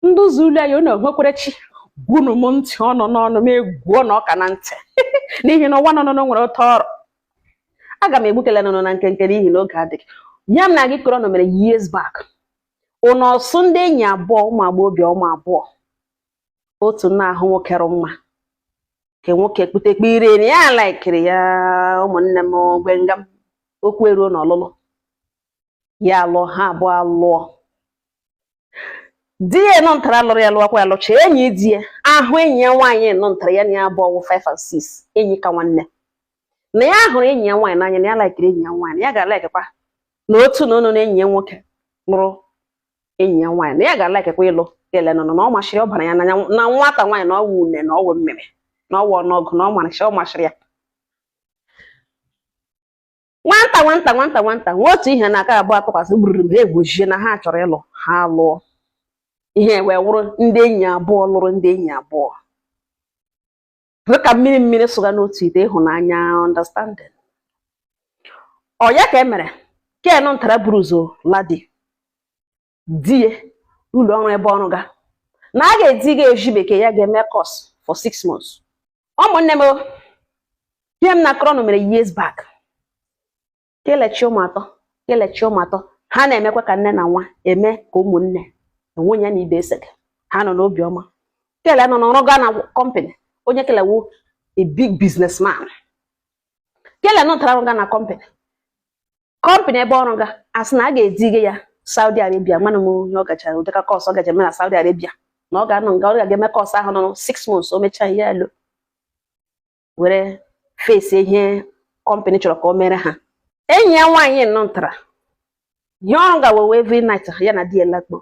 ndị ụzọ ule ya unu enwekwere chi gwunu m ntị ọnụ n'ọnụ m egwuo ụnụ ọka na ntị n'ihi na ụwa nọnụnụ nwere otu ọ rụ aga m egbukele ụnụ na nkenke n'ihi na oge adịghị ya m na gị kọrọ ụnụ mere years back ụnụ ọsụ ndị enyi abụọ ụmụ agbọghọbịa ụmụ abụọ otu na-ahụ nwoke rụ mma nke nwoke kputekpe ire na ya laikiri ya ụmụnne m gbenga m okwu eruo n'ọlụlụ ya alụọ ha abụọ alụọ di ya nọ ntara lụrụ ya lụọkwa ya lụcha enyi di ya ahụ enyi ya nwaanyị nọ ntara ya na ya abụọ wụ 5 and 6 enyi ka nwanne na ya hụrụ enyi ya nwaanyị n'anya na ya laikiri enyi ya nwaanyị na ya ga-alaikekwa na otu na ụnụ na enyi ya nwoke lụrụ enyi ya nwaanyị na ya ga-alaikekwa ịlụ ele nọ na ọ mashịrị ọ bara ya n'anya na nwata nwaanyị na ọ wụ une na ọ wụ mmiri na ọ wụ ọnụọgụ na ọ mashịrị ọ mashịrị ya nwanta nwanta nwanta nwanta nwe otu ihe na aka abụọ atụkwasị gbururu m ha ekwuzie na ha chọrọ ịlụ ha lụọ ihe wee wụrụ ndị enyi abụọ lụrụ ndị enyi abụọ dị ka mmiri mmiri sụga n'otu ite ịhụnanya understanding ọ ya ka e mere ke nọ ntara buru ụzọ laa di di ya ụlọ ọrụ ebe ọ rụga na a ga-ediga ezi bekee ya ga-eme course for six months ụmụnne m ihe m na-akọrọ nụ mere years back kele chị ụmụ atọ kele chị ụmụ atọ ha na-emekwa ka nne na nwa eme ka ụmụnne enwe onye na ibe esege ha nọ n'obi ọma kele nọ na-arụga na company onye kele wu a big businessman kele nọ ntara rụga na company company ebe ọ rụga asị na a ga-edige ya Saudi Arabia mana m onye ọ gachara ụdịka course ọ gaje eme na Saudi Arabia na ọ ga-anọ nga ọ ga-eme course ahụ nọ 6 months o mechaa ya eluo were face ihe company chọrọ ka o mere ha enyi ya nwaanyị nọ ntara ihe ọ rụga wụ every night ya na di ya lakpuo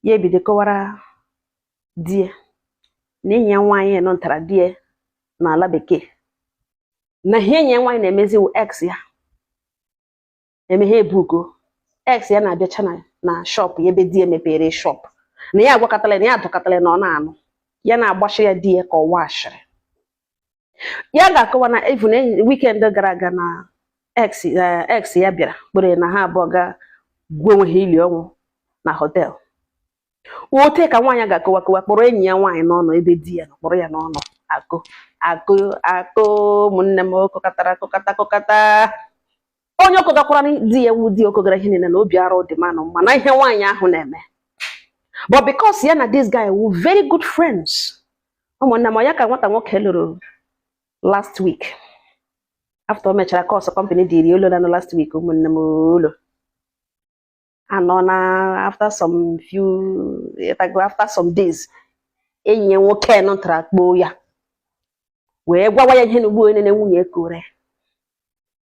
ya ebido kọwara di ya na enyi ya nwaanyị nọ ntara di ya n'ala bekee na ihe enyi ya nwaanyị na-emezi wụ ex ya emeghe ebugo ex ya na-abịacha na shop ya ebe di ya mepere shop na ya agwakatala ya adọkatala na ọ na-anụ ya na-agbashịrị ya di ya kọwa ashịrị ya ga-akọwa na even weekend gara aga na ex eh, ex ya bịara kpọrọ ya na ha abụọ ga gwa onwe ha ili ọnwụ na hotel otu a ka nwaanyị ga-akọwa kọwa kpọrọ enyi ya nwaanyị n'ọnụ ebe di ya nọ kpọrọ ya n'ọnụ akọ akọ akọ ụmụnne m ọ kọkatara akọkata akọkata onye ọ kọgakwara di ya wu di ọ kọgara ihe niile na obi arụ dị manụ mma na ihe nwaanyị ahụ na-eme but because ya na this guy were very good friends ụmụnne m ọ ya ka nwata nwoke luru last week after o mechara course company dịrị olu lanụ last week ụmụnne m ụlọ anọ na after some few ịghọtago after some days enyi ya nwoke nọ tara kpọọ ya wee gwawa ya ihe na ugbu onye na nwunye kọrọ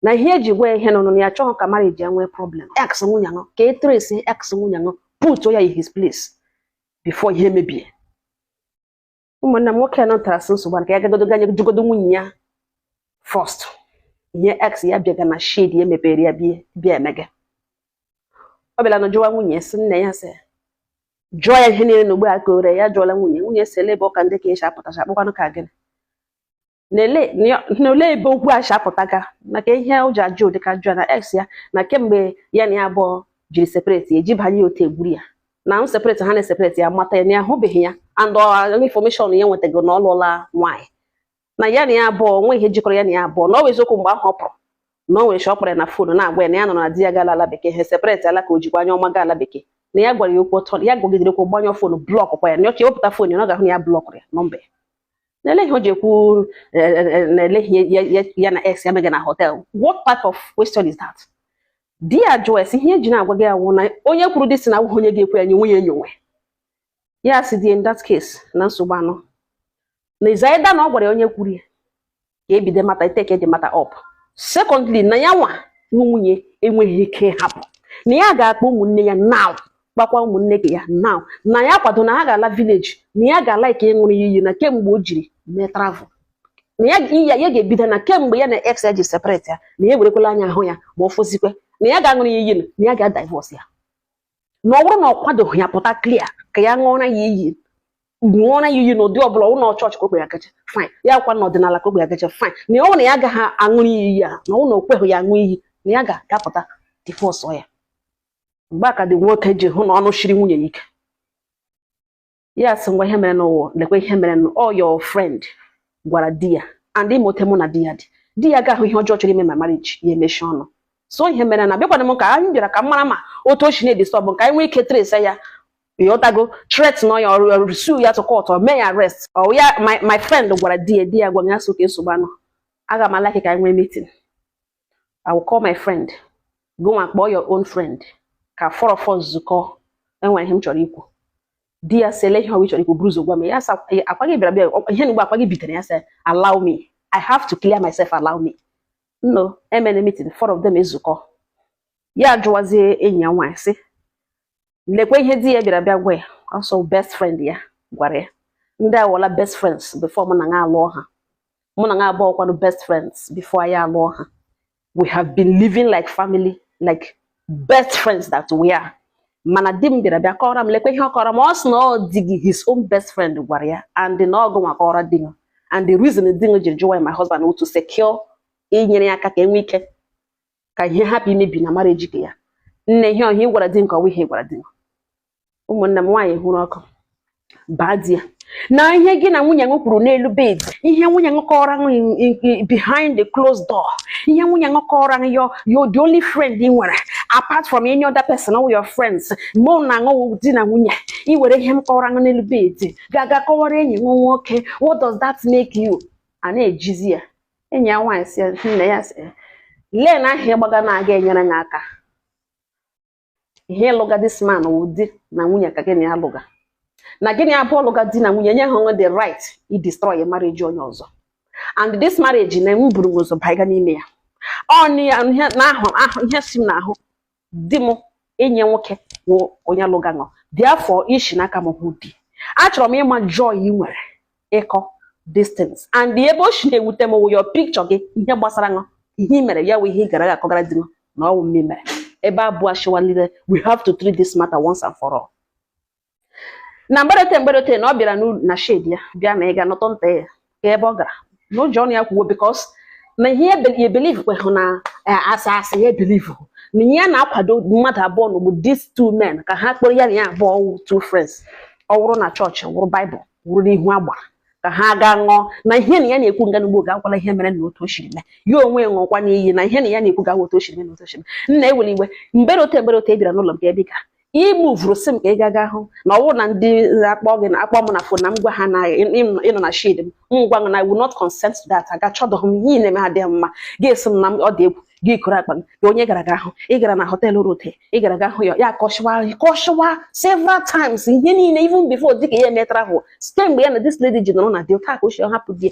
na ihe eji gwa ya ihe nọ na ya chọghị ka marriage ya nwee problem ex nwunye nọ ka e trace ex nwunye nọ put ya in his place before ihe mebie ụmụnna m nwoke nọ tara sị nsogbu a ka ya gagodo ganye jụgodo nwunye ya first ihe ex ya bịaga na shed ya mepere ya bịa bịa emege ọ bịara na jụwa nwunye sị nne ya sị jụọ ya ihe niile na ogbe a kọọrọ ya jụọla nwunye nwunye sị ele ebe ụka ndị ka esi apụtacha a kpọkwanụ ka gịnị n'ole ebe okwu a si apụtaga maka ihe o ji ajụ ụdị ajụjụ a na ex ya na kemgbe ya na ya abụọ jiri separate eji banye otu egburu ya na m separate ha na-eseparate ya mata ya na ya ahụbeghị ya and information ya nwetago na ọ lụọla nwaanyị na ya na ya abụọ nwe ihe jikọrọ ya na ya abụọ na ọ bụ eziokwu mgbe ahụ ọ pụrụ na o nwere shi ọ kpọrọ ya na fon na-agwa ya na ya nụ na di ya gaala ala bekee ha separate ala ka o jikwa anya ọma gaa ala bekee na ya gwara ya okwu ọtọ ya gwagidere okwu gbanyụọ fon blọkụ kwa ya na ọka ewepụta fon ya na ọ ga-ahụ na ya blọkụrụ ya nọmba ya N'ele ihe o ji ekwu n'ele ihe ya na ex ya mega na hotel what type of question is that di ya jụọ ya sị ihe eji na-agwa gị awụ na onye kwuru dị si na awụghị onye ga-ekwe ya nye nwunye enyowe ya sị di in that case na nsogbu anọ na is either na ọ gwara ya onye kwuru ya ka ebido mata ịtake the matter up secondly na ya nwa nwunye enweghị ike ịhapụ na ya ga-akpọ ụmụnne ya now kpọkwa ụmụnne nke ya now na ya kwado na ha ga-ala village na ya ga-alike ịṅụrụ ya iyi na kemgbe o jiri mee travel na ya ya ga-ebido na kemgbe ya na ex ya ji separate ya na ya ewerekwala anya ahụ ya ma ọ fọzikwe na ya ga-aṅụrụ ya iyi na ya ga-adivorce ya na ọ bụrụ na ọ kwadoghị ya pụta clear ka ya ṅụọra ya iyi ṅụọra ya iyi n'ụdị ọbụla ụlọ chọọchị ka o kwe ya gacha fine ya kwa n'ọdịnala ka o kwe ya gacha fine na ọ na ya agaghị aṅụrụ ya iyi ya na ọ na o kweghị ya aṅụ iyi na ya ga-apụta divorce ya mgbe a ka di nwoke ji hụ na ọnụ shiri nwunye ya ike ya sị ngwa ihe mere now lekwa ihe mere ọ your friend gwara di ya and ị ma otu mụ na di ya dị di ya ga-ahụ ihe ọjọọ chọrọ ime my marriage ya emechie ọnụ so ihe mere na bịakwana m ka anyị bịara ka m mara ma otu o si na-edisturb ka anyị nwee ike trace ya ịghọtago threaten ya or or sue ya to court or mee ya arrest ọ ya my friend gwara di ya di ya gwa ya so ka nsogbu anọ aga m alike ka anyị nwee meeting I will call my friend gị nwa kpọọ your own friend ka four of us zukọọ enwere ihe m chọrọ ikwu di ya sị ele ihe ọ wụ ị chọrọ ikwu buru ụzọ gwa m ya sị ọkwa gị bịara bịa ihe n'igbo ọkwa gị butere ya sị allow me I have to clear myself allow me no emene meeting four of them ezukọ ya jụwazie enyi ya nwaanyị sị lekwa ihe di ya bịara bịa gwa ya ọ sị ọ best friend ya gwara ya ndị a wụla best friends before mụ na gị alụọ ha mụ na gị abụọ kwanụ best friends before anyị alụọ ha we have been living like family like best friends that we are mana di m bịara bịa kọrọ m lekwa ihe ọ kọrọ m ọ sị na ọ di gị his own best friend gwara ya and na ọ gị nwa kọrọ di m and the reason di m jiri jụwa my husband to secure inyere ya aka ka enwe ike ka ihe hapụ imebi na marriage nke ya nne ihe ọ ihe a ị gwara di m ka ọwa ihe gwara di ụmụnne m nwaanyị hụrụ ọkụ baa di ya na ihe gị na nwunye m kwuru n'elu bed ihe nwunye m kọrọ behind the closed door ihe nwunye m kọrọ m you you're the only friend ị nwere apart from any other person all your friends mụ na ṅụ wụ di na nwunye ị were ihe m kọrọ m n'elu bed ga-aga kọwara enyi m nwoke what does that make you a na-ejizi ya enyi ya nwaanyị sị nne ya sị lee na ahịa ị gbaga na-aga enyere gị aka ihe ị lụga this man wụ di na nwunye ka gị na ya lụga na gị na ya abụọ lụga di na nwunye enyehụ ṅụ the right i destroy marriage onye ọzọ and this marriage na m buru ụzọ baga n'ime ya ọ na ahụ ahụ ihe si m n'ahụ di m enyi nwoke wụ onye lụga ṅụ therefore i shi n'aka m hụ di achọrọ m ịma joy ị nwere ịkọ these things and ebe o si na-ewute m wụ your picture gị ihe gbasara ṅụ ihe i mere ya wụ ihe ị gara aga akọgara di m na ọ wụ m mere ebe abụọ achịwalile we have to treat this matter once and for all na mgbe rote mgbe rote na ọ bịara n'ụlọ na shed ya bịa na ị ga-anọtụ nta ya ka ebe ọ gara na o ji ọnụ ya kwuo because na ihe ya believe kwehụ na a sị a sị ya believe na ihe na-akwado mmadụ abụọ na bụ these two men ka ha kpọrọ ya na ya abụọ wụ two friends ọ wụrụ na chọọchị wụrụ baịbụl wụrụ n'ihu agbara ka ha gaa ṅụọ na ihe na ya na-ekwu nga n'ugbo ga-akwala ihe mere na otu o siri mee ya onwe ṅụọkwanụ iyi na ihe na ya na-ekwu ga-awa otu o siri mee na otu o siri mee nna ewere iwe mgbe rote mgbe rote ị bịara n'ụlọ m ga-ebi ka imuvuru sị m ka ị gaga hụ na ọ wụrụ na ndị akpọ gị na akpọ m na phone na m gwa ha na ị nọ na shed m m gwa na I will not consent to that aga chọdọghị m ihe na-eme ha dị mma ga-esi m na ọ dị egwu gị kụrụ akpa gị onye gara ga ahụ ị gara na họteelụ rote ị gara ga ahụ ya ya kọshịwa kọshịwa several times ihe niile even before dịka ya eme travel site mgbe ya na this lady ji nọrọ na dị taa ka o si hapụ di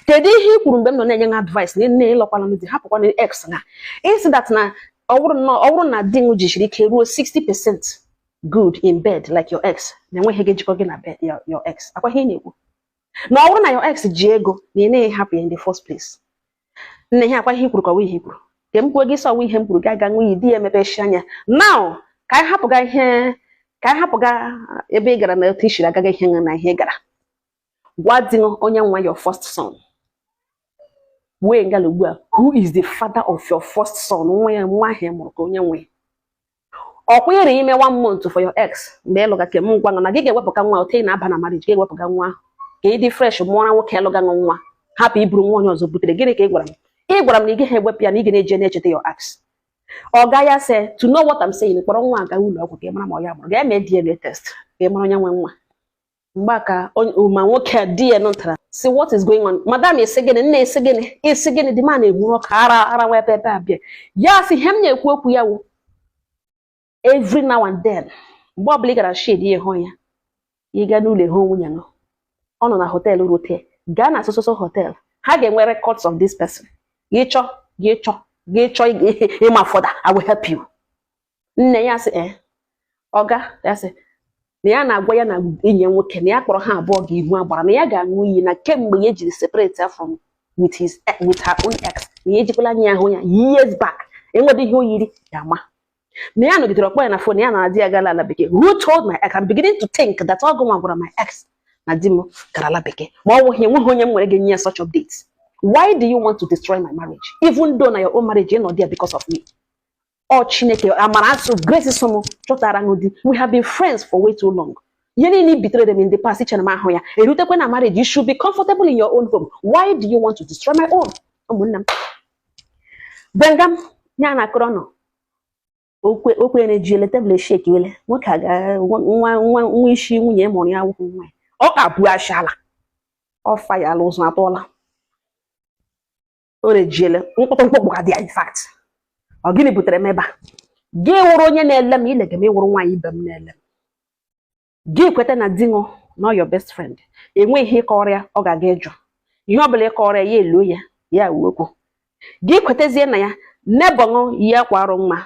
kedu ihe i kwuru mgbe m nọ na-enye ha advice na nne ị lụọkwala m di hapụkwana ex na ị sị that na ọ bụrụ na ọ bụrụ na di m jisiri ike ruo 60 percent good in bed like your ex na enweghị ihe jikọ gị na bed your, your ex ọ kwa ihe ị na-ekwu na ọ bụrụ na your ex ji ego na ị naghị hapụ ya in the first place nne ihe ọ kwa ihe i kwuru ka ọwa ihe i kwuru ka m kwuo gị sị ọwa ihe m kwuru gị aga ṅụọ iyi di ya emepechi anya now ka anyị hapụga ihe ka anyị hapụga ebe ị gara na otu i siri agaghị ihe na ihe ị gara gwa di ṅụ onye nwe your first son wee ngala ugbu a who is the father of your first son nwa ya nwa ahụ mụrụ ka onye nwe ọkwa ịrị ime one month for your ex mgbe ị lụga kem m gwa ṅụ na gị ga-ewepụga nwa ote na-aba na marriage ga-ewepụga nwa ka ị dị fresh mụọra nwoke ị lụga nwa hapụ iburu nwa onye ọzọ butere gịnị ka ị gwara m ị gwara m na ị gaghị ewepụ ya na ị ga na-eje na-echeta your ex ọga ya sị to know what I'm saying kpọrọ nwa a ga ụlọ ọgwụ ka ị mara ma ọ ya mụrụ ga-eme DNA test ka ị mara onye nwe nwa mgbe a ka o- ma nwoke a di ya nụtara sị what is going on madam ị sị gịnị nna ị sị gịnị ị sị gịnị dị ma na-enwuru ọka ara ara wa ebe ebe a bịa ya sị ihe m na-ekwu okwu ya wụ every now and then mgbe ọbụla ị gara shed ya hụ ya ị gaa n'ụlọ hụ nwunye ṅụ ọ nọ na hotel rute gaa na so so so hotel ha ga-enwe records of this person gị chọ gị chọ gị chọ ịma further I will help you nne ya sị ee eh, ọga ya sị na ya na-agwa ya na enyi ya nwoke na ya kpọrọ ha abụọ ga ihu agbara na ya ga-aṅụ iyi na kemgbe ya jiri separate ya from with his eh, with her own ex na ya ejikwala anya ahụ ya years back enwedị ihe o yiri ya ma na ya nọgidere ọ kpọọ ya na fon ya na di ya gara ala bekee who told my ex I'm beginning to think that ọ gụnwa gwara my ex na di m gara ala bekee ma ọ nweghị enweghị onye m nwere ga-enye ya such updates why do you want to destroy my marriage even though na your own marriage ị nọ there because of me o Chineke amara asụ grace sụ mụ chọtara ṅụ di we have been friends for way too long ihe niile ị betrayere m in the past ichere m ahụ ya erutekwa na marriage you should be comfortable in your own home why do you want to destroy my own ụmụnne m benga m ya na-akọrọ ṅụ okwe okwe na-eji ele table eshakeele nwoke a ga nwa nwa nwa isi nwunye mụrụ ya wụkwụ nwa ya ọ ka bụ ashala ọ fayala ụzọ atọla o rejiele mkpọtụ mkpọkpọ ka dị ya in fact ọ gịnị butere m ebe a gị wụrụ onye na-ele m ị lega m ị wụrụ nwaanyị ibe m na-ele m gị kweta na di ṅụ na your best friend enweghị ihe ị kọọrọ ya ọ ga-aga ịjụ ihe ọ bụla ị kọọrọ ya ya eloo ya ya uwe okwu gị kwetezie na ya neighbour ṅụ ya kwarụ mma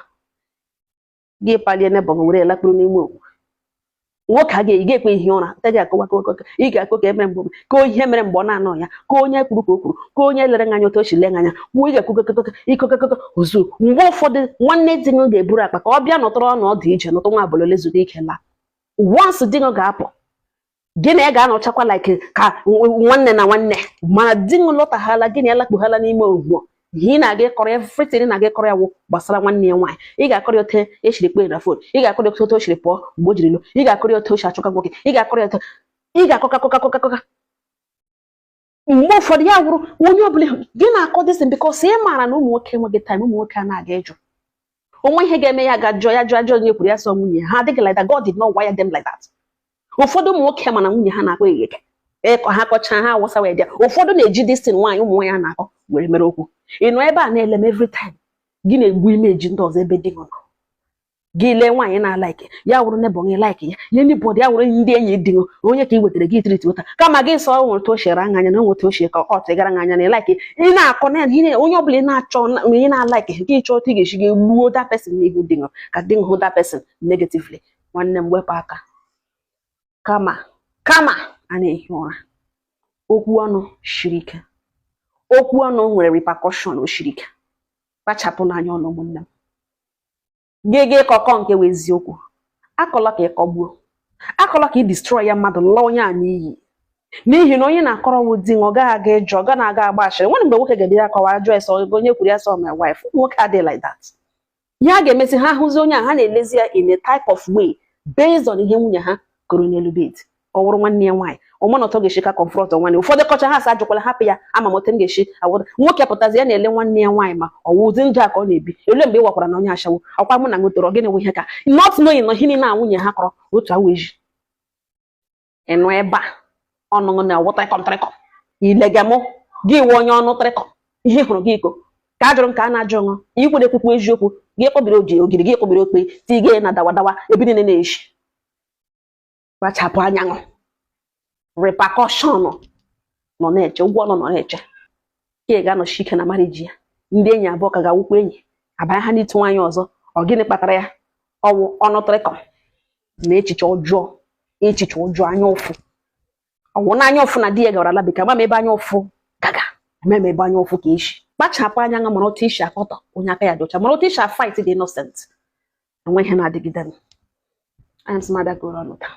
gị palie neighbour ṅụ were lakpuru n'ime okwu nwoke a ga-eyi ga-ekwe ihi ụra te gị akọwa akọwa ị ga-akọ ka e mere mgbe ka ihe mere mgbe ọ na-anọ ya ka onye kwuru ka o kwuru ka onye lere anya otu o si lee anya kwuo ị ga-ekwukọkọkọ ikọkọkọ ozu mgbe ụfọdụ nwanne di ṅụ ga-eburu akpa ka ọ bịa nọtụrụ ọnọdụ ije nọtụ nwa abalị ole zuru ike laa once di ṅụ ga-apụ gị na ya ga-anọchakwa like ka nwanne na nwanne mana di ṅụ lọtaghala gị na ya lakpughala n'ime ugbo ihe ị na-aga ịkọrọ ya everything na-aga ịkọrọ ya wụ gbasara nwanne ya nwaanyị ị ga-akọrọ ya ote o shiri kpọọ na fon ị ga-akọrọ ya otu o shiri pụọ mgbe o jiri lọ ị ga-akọrọ ya otu o si achọka nwoke ị ga-akọrọ ya otu ị ga-akọka kọka kọka kọka mgbe ụfọdụ ya wụrụ onye ọbụla gị na-akọ dịsịn because ị maara na ụmụ nwoke enweghị time ụmụ nwoke a na-aga ịjụ o nwee ihe ga-eme ya ga jụọ ya jụọ ajụọ onye kwuru ya sọ nwunye ha adịghị like that God did not wire them like that ụfọdụ ụmụ nwoke mana nwunye ha na-akpọ egheke ịkọ ha kọchaa ha awụsawa ya ụfọdụ na-eji dịsịn nwaanyị ụmụ nwaanyị a na-akọ were mere okwu ị nọ ebe a na-ele m every time gị na-egbu image ndị ọzọ ebe di gị nọ gị lee nwaanyị na-alaiki ya wụrụ neighbour gị laiki ya ihe ndị bọdụ ya wụrụ ndị enyi di ṅụ onye ka ị wetara gị itiriti ụta kama gị sị o nwere otu o shi ele anya anya na onwe otu ochie ka ọ tụgara anya anya na ịlaiki ị na-akọ na onye ọbụla ị na-achọ onye na-alaiki gị chọọ otu ị ga-esi gị gbuo that person n'ihu di ṅụ ka di ṅụ hụ that person negatively nwanne m wepụ aka kama kama a na-ehi ụra okwu ọnụ shiri ike okwu ọnụ nwere repercussion o shiri ike kpachapụnụ anya ọnụ ụmụnne m gị ga ịkọ kọọ nke wụ eziokwu akọla ka ịkọgbuo akọla ka ị destroy ya mmadụ laa onye a n'iyi n'ihi na onye na-akọrọ wụ di ọ gaghị aga ịjụ ọ ga na-aga agba ashịrị nwanne mgbe nwoke ga-ebido akọwa ajụ ese onye kwuru ya sọ my wife nwoke adịghị like that ihe a ga-emezi ha ahụzi onye a ha na-elezi ya in a type of way based on ihe nwunye ha kọrọ n'elu bed ọ wụrụ nwanne ya nwaanyị ọ maghị otu ọ ga-esi ka confront nwanne ụfọdụ kọchaa ha sị ajụkwala hapụ ya ama m otu m ga-esi avoid ya nwoke pụtazi ya na-ele nwanne ya nwaanyị ma ọ wụ ụdị ndụ a ka ọ na-ebi elee mgbe ị wakwara na onye ashawo ọkwa mụ na gị toro gịnị nwe ihe ka not knowing na ihe niile a nwunye ha kọrọ otu awa eji ịnụ ebe a ọnụ ṅụ na ọ wụ trịkọm trịkọm ilege mụ gị wụ onye ọnụ trịkọm ihe ị hụrụ gị ịkọ ka ajụrụ m ka a na-ajụ ṅụ ikwere ekwukwu eziokwu gị kpọbiri oji ogiri gị kpọbiri okpe tige na dawa dawa ebe niile na-eshi kpachapụ anya ṅụ repercussion nọ na-eche ụgwọ ọnụ nọ na-eche ka ị ga-anọshi ike na marriage ya ndị enyi abụọ ka ga-awụkwa enyi abanye ha n'ịtụ nwaanyị ọzọ ọ gịnị kpatara ya ọ wụ ọnụ trịkọm na echiche ọjọọ echiche ọjọọ anya ụfụ ọ wụ na anya ụfụ na di ya gara ala bekee mama ebe anya ụfụ gaga mama ebe anya ụfụ ka echi kpachapụ anya ṅụ mara otu i si akọtọ onye aka ya dị ọcha mara otu i si afight the innocent enweghị ihe na-adịgide m anya m sị m abịa kọọrọ ụnụ taa